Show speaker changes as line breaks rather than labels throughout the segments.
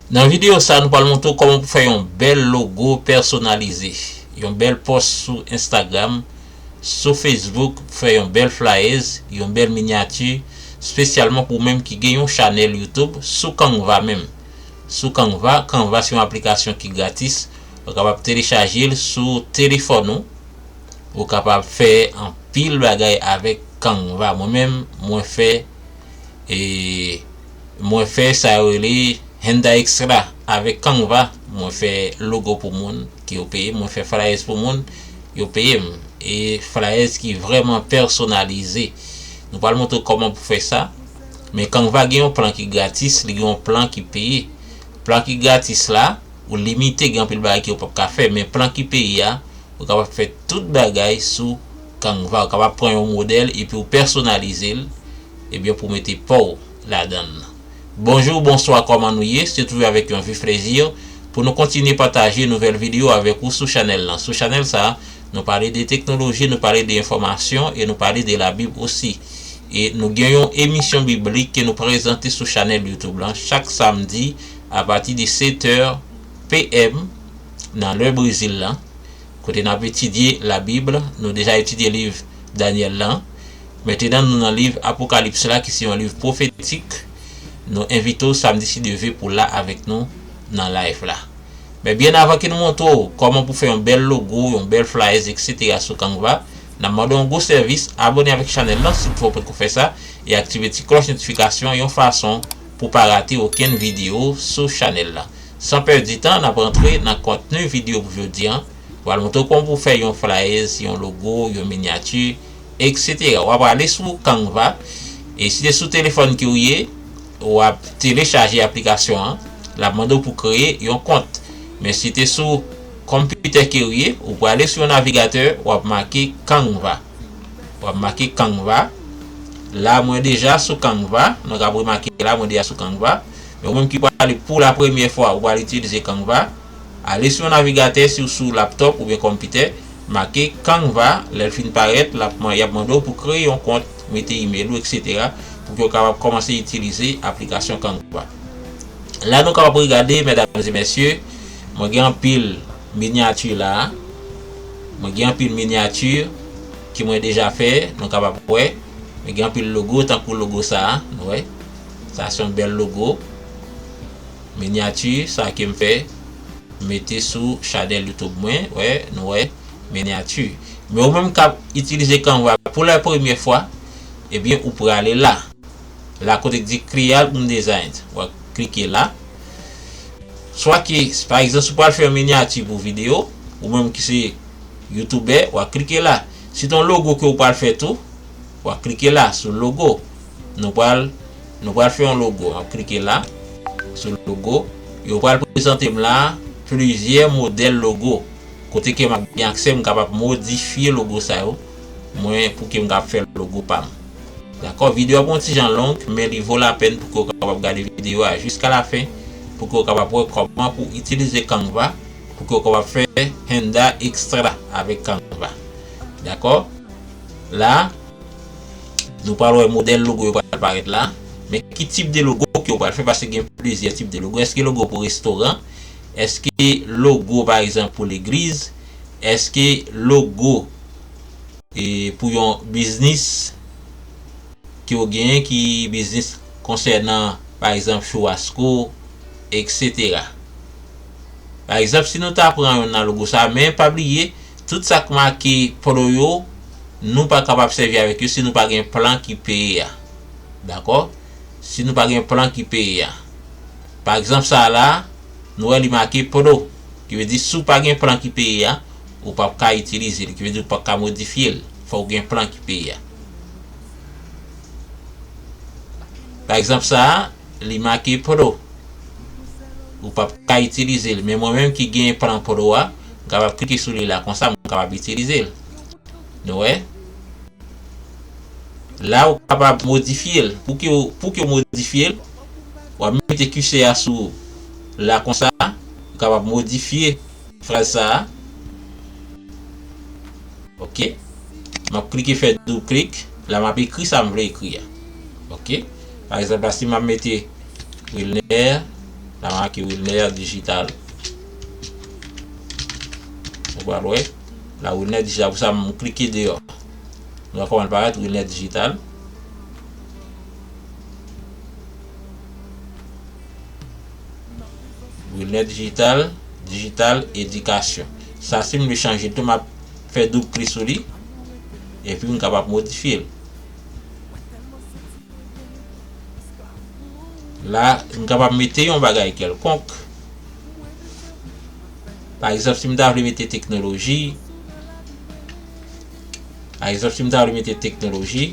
Nan videyo sa nou pral montre w kòman pou fè yon bèl logo pèsonalize, yon bèl pòs sou Instagram, sou Facebook pou fè yon bèl flayèz, yon bèl minyati spesyalman pou w menm ki gen yon chanèl YouTube sou Canva menm. Sou Canva, Canva se yon aplikasyon ki gratis. Ou kapab telechaje l sou telefòn ou. Ou kapab fè anpil bagay avèk Canva. Mwen menm, mwen fè e mwen fè sa yo rele Handa Extra avèk Canva. Mwen fè logo pou moun ke yo peye m. Mwen fè flyers pou moun, yo peye m. E flyers ki vrèman pèsonalize. Nou pral montre w kòman pou fè sa. Men Canva gen yon plan ki gratis, li gen yon plan ki peye. Plan ki gratis la. ou limite gen anpil bagay ke ou pap ka fè men plan ki peye a ou kapab fè tout bagay sou Canva ou kapab pran yon modèl epi ou pèsonalize l ebyen pou mete pa w ladan l Bonjour bonswa kòman nou ye se toujou avèk yon vif plèzi pou nou kontinye pataje nouvèl video avèk ou sou chanèl lan sou chanèl sa nou pale de teknoloji nou pale de enfòmasyon e nou pale de labib osi e nou gen yon emisyon biblik ke nou prezante sou chanèl youtube lan chak samdi apati de 7 è PM nan lè Brezil lan, kote nap etidye la Bib, nou deja etidye liv Danyèl lan, mentenan nou nan liv Apokalips la ki se yon liv pwofetik, nou envite w samdi si Dye ve pou la avèk nou nan live la. Men byen avan ke nou montre w kòman pou fè yon bèl logo, yon bèl flyers etc sou Canva, nap mande w yon gwo sèvis, abòne avèk chanèl lan si w poko fè sa e aktive ti klòch notifikasyon yon fason pou pa rate okenn video sou chanèl la. San pèdi tan nap rantre nan kontni video pou jodi an, pral montre w kòman pou fè yon flayèz, yon logo, yon minyati etc. Wa prale sou Canva e si se sou telefòn ke w ye wap telechaje aplikasyon an, lap mande w pou kreye yon kont. Men si te sou konpitè ke w ye ou prale sou yon navigatè wap make Canva. Wap make Canva. La mwen deja sou Canva. Nou kap remake la mwen deja sou Canva. Men ou menm ki pwale pou la premye fwa ou pwale itilize Canva. Ale sou yon navigatè si ou sou laptop oubyen konpitè. Make Canva. Lèl fin parèt lap man yap mande ou pou kreye yon kont. Mete email ou etc. Pou ke ou kapab komanse itilize aplikasyon Canva. La nou kapab regade medam e mesye. Mwen gen anpil. miniature la a. Mwen gen anpil miniature ke mwen deja fè, nou kapab wè. Mwen gen anpil logo tankou logo sa a, nou wè. Sa se yon bèl logo. Miniature sa a ke m fè, m mete sou chanèl YouTube mwen, wè, nou wè, miniature. Men ou menm kap itilize Canva pou la premye fwa, ebyen ou prale la. la kote ki di creal un designs wap klike la swa ki pa egzanp si w pral fè yon minyati pou video ou menm ki se youtubè wap klike la si ton logo ke w pral fè tou wap klike la sou logo nou pral nou pral fè yon logo wap klike la sou logo yo pral prezante m la plizyè modèl logo kote ke map gen aksè m kapab modifye logo sa yo mwen pou ke m kab fè logo pa m. Dakò, videyo a bon ti jan long, men li vo lapèn pou ke w kapab gade videyo a jiska lafen pou ke w kapab wè kòman pou itilize Canva pou ke w kapab fè handa ekstra avèk Canva. Dakò? La, nou pral wè modèl logo yo pral parèt la. Men ki tip de logo ke w pral fè paske gen plizyè tip de logo. Eske logo pou restoran? Eske logo pa egzanp pou legliz? Eske logo E pou yon biznis ke w genyen ki biznis konsènan pa egzanp chouwasko eksetera. Pa egzanp si nou ta pran youn nan logo sa a men pa bliye tout sa k make pro yo nou pa kapab sèvi avèk yo si nou pa gen plan ki peye a. Dakò? Si nou pa gen plan ki peye a. Pa egzanp sa a la nou wè li make pro ki vle di si w pa gen plan ki peye a ou pap ka itilize li, ki vle di ou pap ka modifye l, fòk ou gen plan ki peye a. Pa egzanp sa a, li make pro, ou pap ka itilize l, men mwen menm ki gen plan pro a, m kapab klike sou li la konsa m kapab itilize l. Nou wè? La ou kapab modifye l, pou ki ou, pou ki ou modifye l, wap mete kise a sou la konsa, ou kapab modifye. Fraz sa a. Ok. M ap klike fè doub klik. La m ap ekri sa m vle ekri a. Ok. Pa egzanp la si m ap mete Wilner. La m make Wilner Digital. Ou pral wè. La Wilner Digital. Pou sa m klike deyò. Nou wè kòman l parèt Wilner Digital. Brunette digital digital edikasyon sa sim vle chanje tou map fè doub klik sou li epi m kapab modifye l la m kapab mete yon bagay kelkonk pa egzanp si m ta vle mete teknoloji pa egzanp si m ta vle mete teknoloji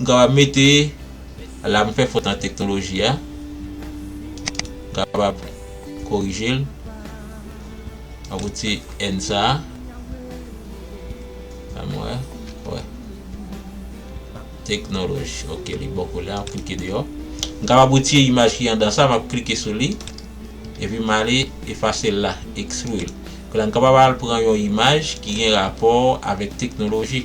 M kapab mete la m fè fot nan teknoloji a m kapab korije l nan pou ti n sa an wè wè teknoloji ok li bon kou la m klike deyò m kapab retire imaj ki andan sa m ap klike sou li epi m ale efase l la ekstrui l m kapab al pran yon imaj ki gen rapò avèk teknoloji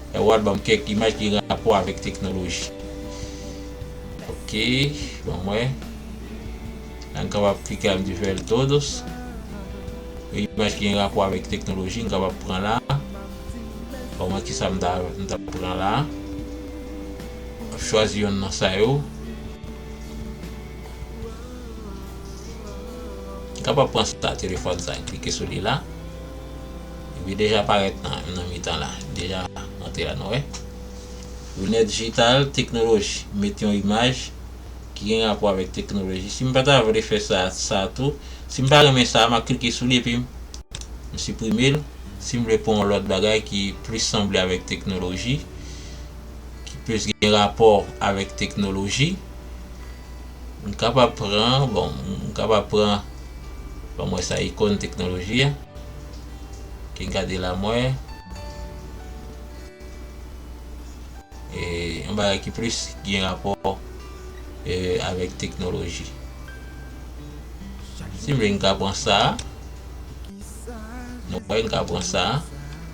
Erward banm kèk imaj ki gen rapò avèk teknoloji ok banm wè an kapab klike al di ver todos yon imaj ki gen rapò avèk teknoloji m kapab pran la banm wè kisa m ta m ta pran la m chwazi yonn nan sa yo m kapab pran sa telefòn sa klike sou li la. Li deja parèt nan mitan la. Li deja monte la nou wè. Lunèt dijital, teknoloji. M met yon imaj ki gen rapò avèk teknoloji. Si m pa ta vle fè sa, sa tou. Si m pa renmen sa, m ap klike sou li epi m siprime l. Si m vle pran yon lòt bagay ki plis sanble avèk teknoloji, ki plis gen rapò avèk teknoloji. M kapab pran, bon, m kapab pran, ban mwen sa ikon teknoloji a. Ki m ka di la mwen. E yon bagay ki plis gen rapò e avèk teknoloji. Si m vle m ka pran sa a. Nou wè m ka pran sa a.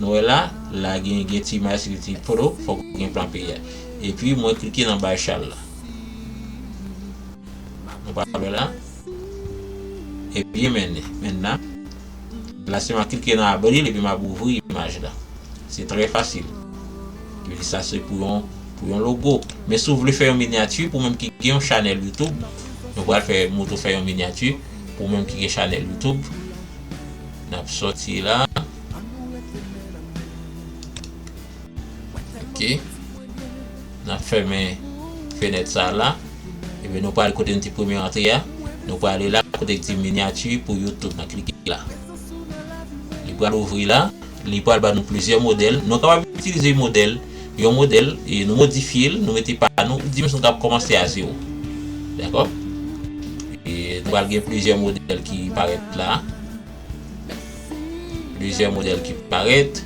Nou wè la, la gen gen ti imaj ki di photo fòk gen plan pi a. Epi mwen klike nan bay chal la. Nou pa wè la. Epi men, men la. La se mwen klike nan abril epi map ouvri imaj la. Se trè fasil. Yo di sa se pou yon pou yon logo. Men si w vle fè yon minyati pou moun ki gen yon chanèl YouTube, nou pral fè moutre w fè yon minyati pou moun ki gen chanèl YouTube. Nap soti la. Ok. Nap fèmen fenèt sa la. Ebe nou pral kote nou te premye antre ya. Nou pral la kote ki di minyati pou YouTube. Nan klike la. Li pral ouvri la. Li pral ba nou plizyè modèl. Nou kapab itilize modèl. Yon modèl. E nou modifye l. Nou mete pa nou. Di msou nou kap komanse a zewo. Dako. E nou pral gen plizyè modèl ki parèt la. Plizyè modèl ki parèt.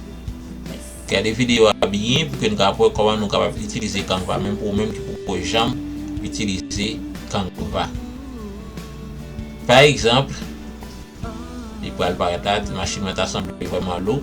Gade videyo a byen pou ke nou ka wè kòman nou kapab itilize Canva menm pou ou menm ki poko janm itilize Canva. Pa egzanp, li pral parèt la, ti machin mwen ta sanble vrèman lou.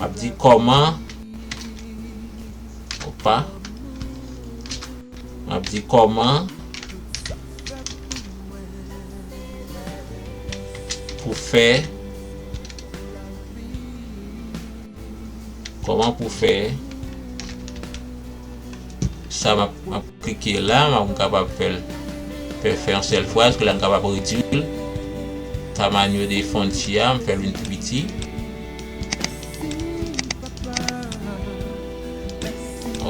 Map di kòman Opa Map di kòman Pou fè Kòman pou fè Sa map map klike la map m kapab fè l fè fè yon sèl fraz ke la m kapab redwi l tamanho de fontia m fè l vin pi piti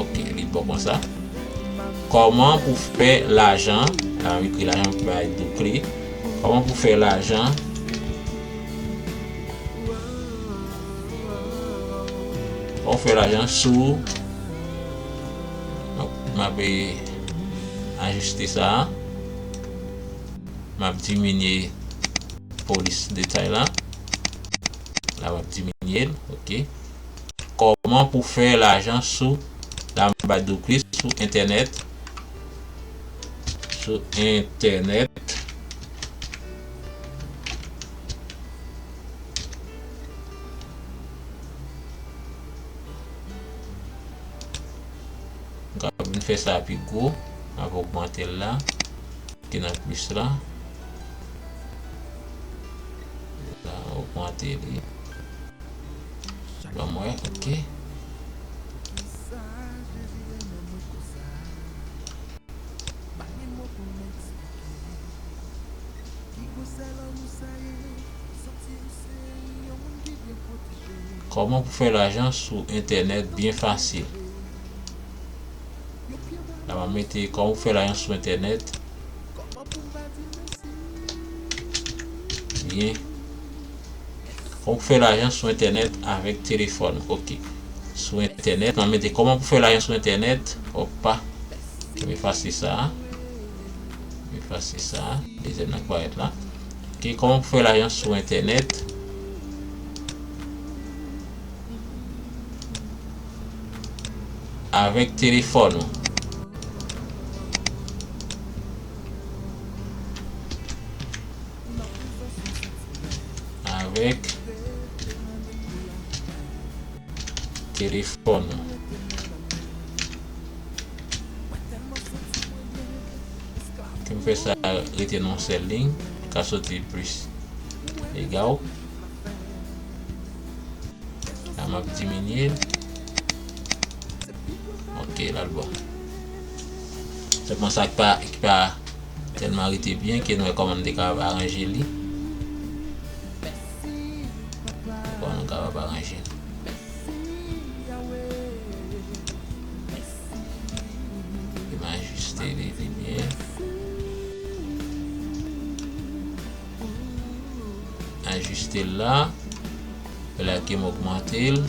ok li bon konsa kòman pou fè lajan la m ekri lajan m bay do kle kòman pou fè lajan Ou fè lajan sou Donk map ajiste sa Map diminye polis detay la La map diminye l ok Kòman pou fè lajan sou La mba dou plis sou entènèt Sou entènèt Kap vin fè sa pi gwo, nap ogmante l la, klike nan plis la, la ogmante li, banm wè ok. Koman pou fè lajan sou entènèt byen fasil la map mete koman pou fè lajan sou entènèt byen koman pou fè lajan sou entènèt avèk telefòn ok sou entènèt map mete koman pou fè lajan sou entènèt opa m efase sa m efase sa dezyèm nan k parèt la. Ok koman pou fè lajan sou entènèt. Avèk telefòn ou. Avèk telefòn ou. Kem fè sa rete nan yon sèl liy ka soti plis egal la map diminye l ok lal bon sèlman sa ki pa tèlman rete byen ke nou wè kòman m te kapab aranje li kòman m kapab aranje l Li va ajuste li vin byen. Ajuste l la. Fè la ke m ogmante l.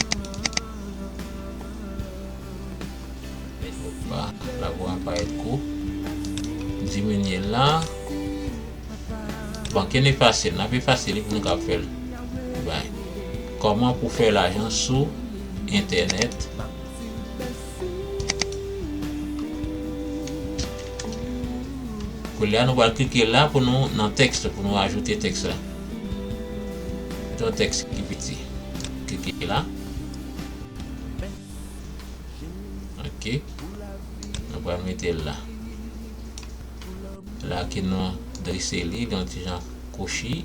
Opa, la vwa pa et kou. Diminye l la. Bon, ke n efase l. N ap efase li pou nou kab fè l. Bay. Koman pou fè lajan sou entènèt. Koulye a nou pral klike la pou nou nan tèks pou nou ajoute tèks la. Mete yon tèks ki piti. Klike la. Ok. Nou pral mete l la. La ki nou drese li, li yon ti jan kwochi.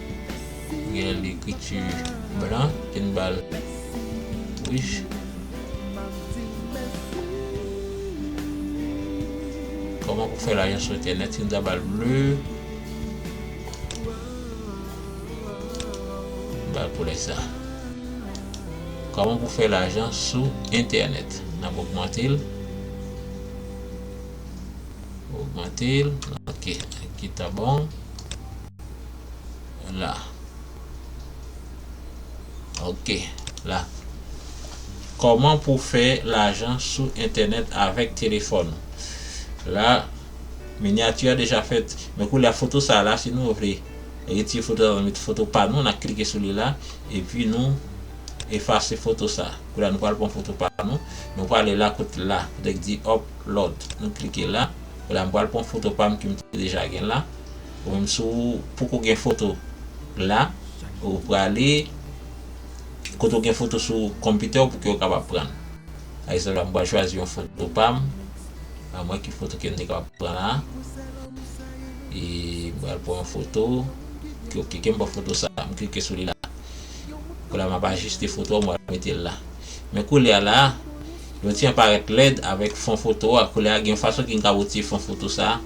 Gen lekriti blan ki n ba l wouj. Kòman pou fè lajan sou entènèt ki n ta ba l ble. N ba l koulè sa. Kòman pou fè lajan sou entènèt. N ap ogmante l. Ogmante l. Ok. Ki ta bon. La. Ok. La. Koman pou fè lajan sou entènèt avèk telefòn. La. Minyati a deja fèt. Men kou la foto sa la si nou vle. Retire foto sa nou met foto pa nou. Na klike sou li la. E pi nou efase foto sa. Kou la nou pral pran foto pa nou. Nou prale la kot la. Kote ki di upload. Nou klike la. Kou la m pral pran foto pa m ki m te deja gen la. Humm si w poko gen foto la ou prale kote w gen foto sou konpitè w pou ke w kapab pran l. Pa egzanp la m pral chwazi yon foto pa m, a mwen ki foto ke m te kapab pran la e m pral pran yon foto ke ok ke m pran foto sa m klike sou li la. Koulye a m ap ajiste foto a m pral mete l la. Men koulye a la. Yo ti an parèt lèd avèk fon foto a koulè a gen yon fason ki m ka retire fon foto sa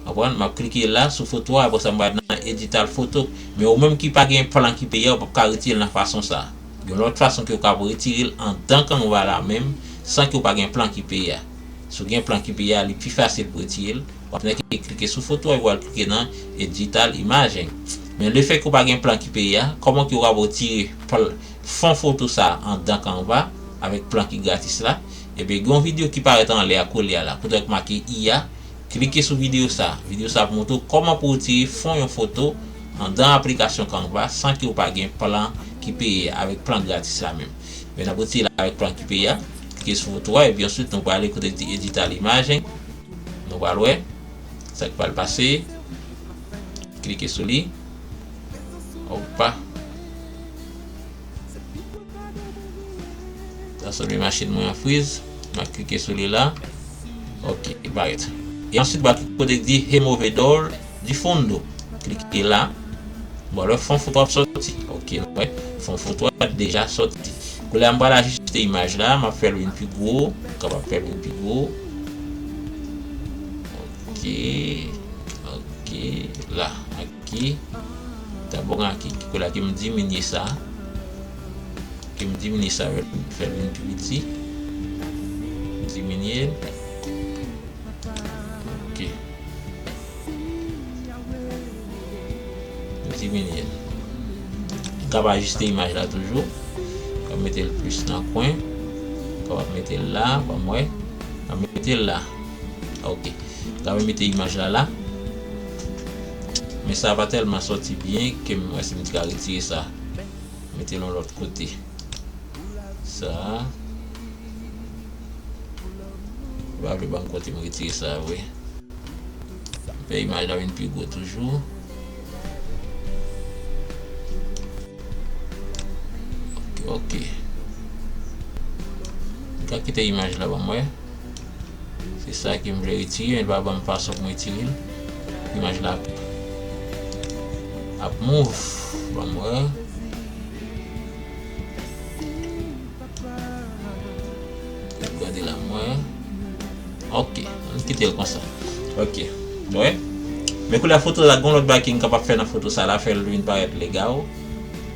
konprann map klike la sou foto a aprè sa m pral nan edital foto men ou menm ki pa gen plan ki peye a ou pap ka retire l nan fason sa gen lòt fason ke ou kab retire l andan canva la menm san ke ou pa gen plan ki peye a si w gen plan ki peye a li pi fasil pou retire l wap nan ki klike sou foto a epi wal klike nan edital image men le fè ke ou pa gen plan ki peye a kòman ke ou kab retire Fon foto sa andan Canva avèk plan ki gratis la. Ebyen gen yon videyo ki parèt anlè a koulye a la kote wè ki make IA. Klike sou videyo sa. Videyo sa ap montre w kòman pou retire fon yon foto andan aplikasyon Canva san ke w pa gen plan ki peye a avèk plan gratis la menm. Ebyen n ap retire l avèk plan ki peye a. Klike sou foto a epi answit nou prale kote ki di edit al image. Nou pral wè sa ki pral pase. Klike sou li. Opa. Nan sanble machin mwen an friz. Map klike sou li la. Ok, li parèt. E answit ba ki kote ki di removedor de fundo. Klike la. Bon, lè fon foto ap soti. Ok, nou wè. Fon foto a deja soti. Koulè a m pral ajiste imaj la. Map fè l vin pi gwo. M kapab fè l vin pi gwo. Ok. Ok. La. Ki ta bon ak ki ki la ki m diminye sa ki m diminye sa yo m fè l vin pi piti m diminye l ok m diminye l m kab ajiste imaj la toujou m ka mete l plis nan kwen m kapab mete l la banm wè m mete l la. Ok Gade mwen mete imaj la la Men sa pa tèlman sòti byen ke m wè si m t ka retire sa Mete l yon lòt kote Sa a Li pa vle banm kote m retire sa a vre M fè imaj la vin pi gwo toujou Ok Ou ka kite imaj la banm wè Se sa ke m vle retire men li pa banm fason pou m retire l. Imaj la ap move. Banm wè. Nap gade la m wè. Ok. Ann kite l konsa. Ok. Nou wè? Men koulè a foto la gon lòt bagay ke m kapab fè nan foto sa la fè l vin parèt legal.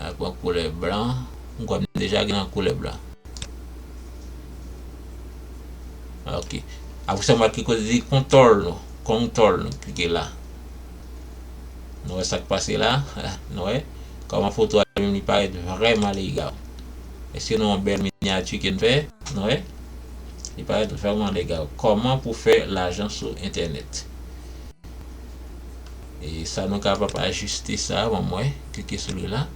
Mwen pran koulè blan. M kwè m deja gen yon koulè blan. Ok. Apre sa m wè kote li di kontòl nou. Kontòl nou. Klike la. Nou wè sa k pase la? Nou wè? Kòman foto a li menm li parèt vrèman lega. Èske nou wè yon bèl minyati ke n fè? Nou wè? Li parèt vrèman lega. Kòman pou fè lajan sou entènèt. Sa nou kapab ajiste sa a banm wè klike sou li la.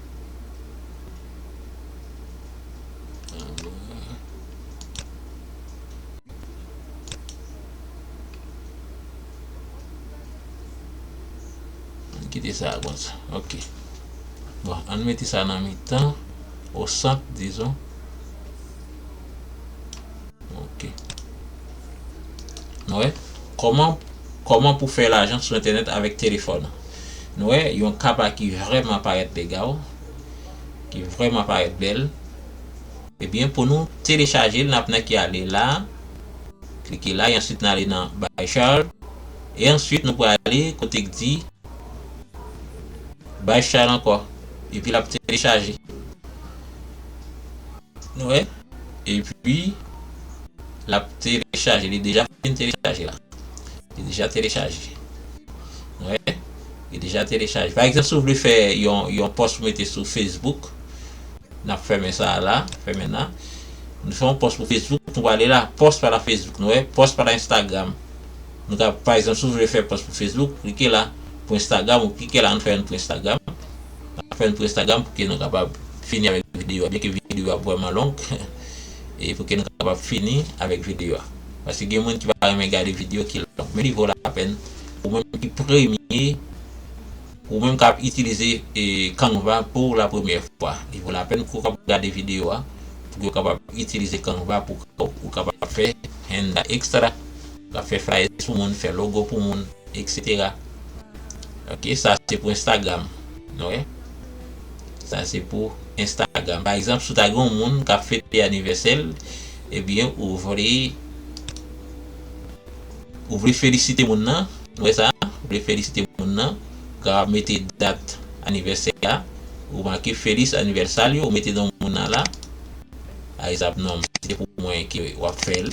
Kite sa a konsa ok bon ann mete sa nan mitan o sant dizon ok. Nou wè, kòman, kòman pou fè lajan sou entènèt avèk telefòn ou. Nou wè, yon kaba ki vrèman parèt legal, ki vrèman parèt bèl. Ebyen, eh pou nou telechaje l, nap nan ki ale la, klike la, e answit nan ale nan Buy Child, e answit nou pral ale kote k di Buy Child ankò, epi lap telechaje. Nou wè epi lap telechaje li deja fin telechaje la li deja telechaje nou wè li deja telechaje pa egzanp sou vle fè yon yon pòs pou mete sou facebook nap fèmen sa la fèmen nan nou fè yon pòs pou facebook nou wale la pòs pa la facebook nou wè pòs pa la instagram nou ka pa egzanp sou vle fè pòs pou facebook klike la pou instagram ou klike la nou fè yon pou instagram Map fèl pou Instagram pou ke nou kapab fini avèk videyo a, byen ke videyo a vrèman long e pou ke nou kapab fini avèk videyo a. Paske gen moun ki pa renmen gade videyo ki long, men li vo lapèn pou mwen menm ki premye, pou mwen menm kap itilize Canva pou la premyè fwa. Li vo lapèn pou kap gade videyo a, pou ke ou kapab itilize Canva pou ou kapab fè henda extra, kap fè flyers pou moun, fè logo pou moun. Etc ok sa se pou instagram nou wè sa se pou instagram pa egzanp si w ta gen yon moun kap fete anivèsè l ebyen ou vle ou vle felisite moun nan nou wè sa ou vle felisite moun nan ou ap mete dat anivèsè a ou make feliz aniversario ou mete non moun nan la pa egzanp non m se pou mwen ke wap fè l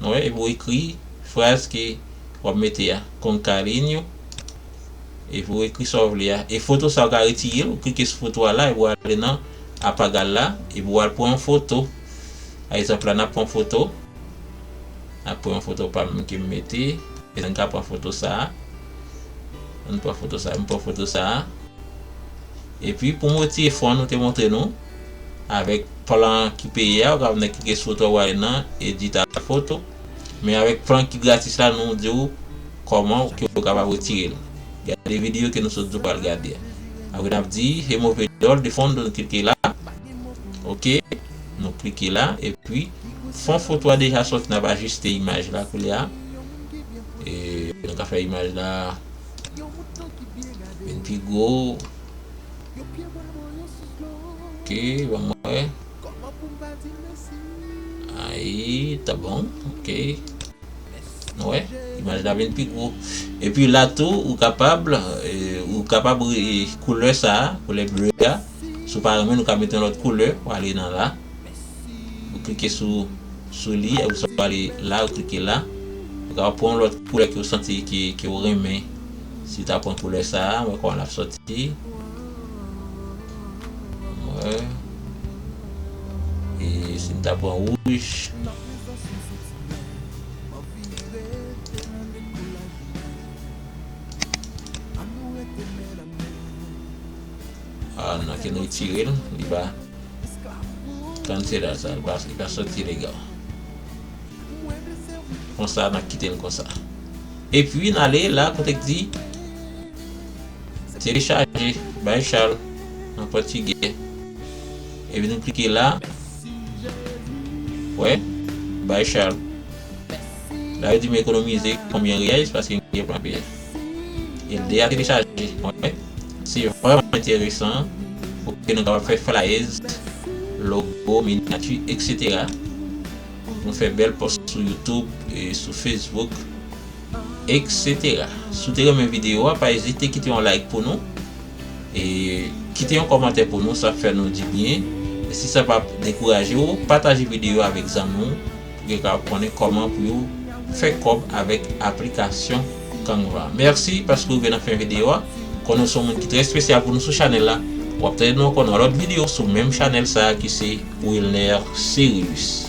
Mwen epi w ekri fraz ke w ap mete a con carinho epi w ekri sa w vle a e foto sa ou ka retire l ou klike sou foto a la epi w ale nan apagal la epi w al pran yon foto pa egzanp la n ap pran foto n ap pran yon foto pa m ke m mete e n ka pran foto sa an n pran foto sa m pran foto sa a. Epi pou motive fon nou te montre nou avèk plan ki peye a ou ka vne klike sou etwal wale nan edit a foto men avèk plan ki gratis la nou diw kòman ou ke ou kapab retirel gade video ke nou sot diw pral gade a apre nap di remove all the fon nou klike la ok nou klike la epi fon foto a deja soti nap ajiste imaj la koulye a e nou ka fè imaj la. Vin pi gwo Ok banm wè Ayi ta bon ok Nou wè imaj la vin pi gwo Epi la tou ou kapab Ou kapab koulè sa koulè bleu a Si w pa renmen l ou ka mete yon lòt koulè Ou ale nan la Ou klike sou sou li epi sa pral ale la ou klike la ou kapab pran yon lòt koulè ke ou santi ke ke ou renmen si ta pran koulè sa a wè kòman lap sòti wè e si m ta pran wouj Ah nan ken retirel li pa cancela sa li pa soti legal konsa nan kitel konsa epi nale la kote k di telechaje bay chal an pòtigè epi nou klike la wè bay chal la yo di m ekonomize konbyen riyèz paske m gen plan peye. El deja telechaje mwen wè. Se vrèman enteresan pou ke nou kapab fè flyers, logo, miniature, etc. Nou fè bèl pòs sou youtube, sou facebook, etc. Si w te renmen video a, pa ezite kite yon like pou nou. E kite yon kòmantè pou nou, sa ap fè nou di byen. Si sa pa dekouraje w, pataje video a avèk zanmi w. Pou yo ka konnen kòman pou yo fè kòb avèk aplikasyon Canva. Merci paske ou rive nan fen video a. Konnen ou se yon moun ki trè espesyal pou nou sou chanèl la. Wap tande nou ankò nan lòt video sou menm chanèl sa ki se Wilner Cérilus.